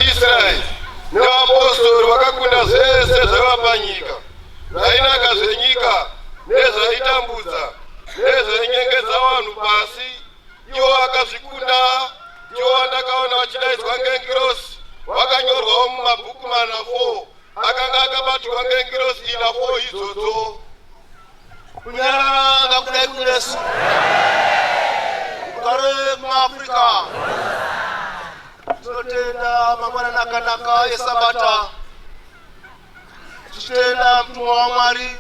Israeri nevapostori vakakunda zvese zvaiva panyika, zvainaka zvenyika nezvaitambudza nezvainyengedza vanhu pasi. Ivo vakazvikunda, ivo vandakaona vachidaidzwa ngengirosi vakanyorwawo mumabhuku mana 4 akanga akabatirwa ngengirosi ina 4 idzodzo. Kunyarara ngakudai kunesu, kugare muAfrica. Tinotenda mangwanani akanaka esabata tichitenda mutumwa wamwari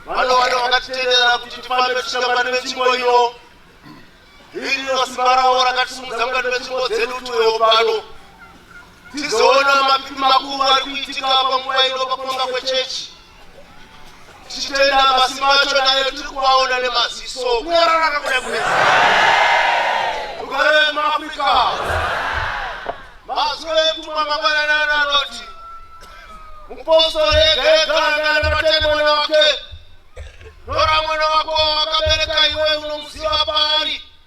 vanowanda vakatitendera kuti tifambe tichishambani vetsvimbo iyo iri rino simba ravo rakatisumudza mukati metsvimbo dzedu tuwewo pano tizoona mapipi makuru ari kuitika panguva ino pakutonga kwechechi tichitenda masimba acho nayo tiri kuvaona nemaziso kunyararaka kuda kunesa rugare vekumaafrica mazwi etumwa mangwananana anoti mupostori ega ega angana matende mwana wake nora mwana wako wakabereka iwe unomuziva paari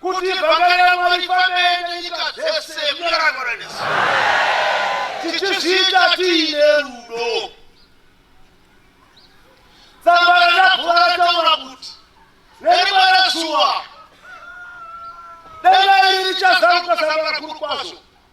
kuti vhangari raMwari rifambe nenyika dzese munyararwara nesi tichizviita tiine rudo. Tsamba raNabhura rataura kuti nerimwe rezuva denga iri richazaruka sangano rakuru kwazvo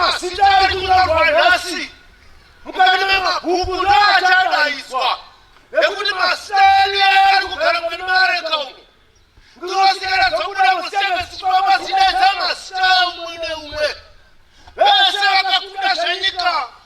mazita ari kunyorwa nhasi mukati memabhuku ndo achadaidzwa nekuti mazita edu yaari kugara mukati meareka umu ndinosikana dzokuda musevesitwa mazita edzamazita umwe neumwe vese vakakunda zvenyika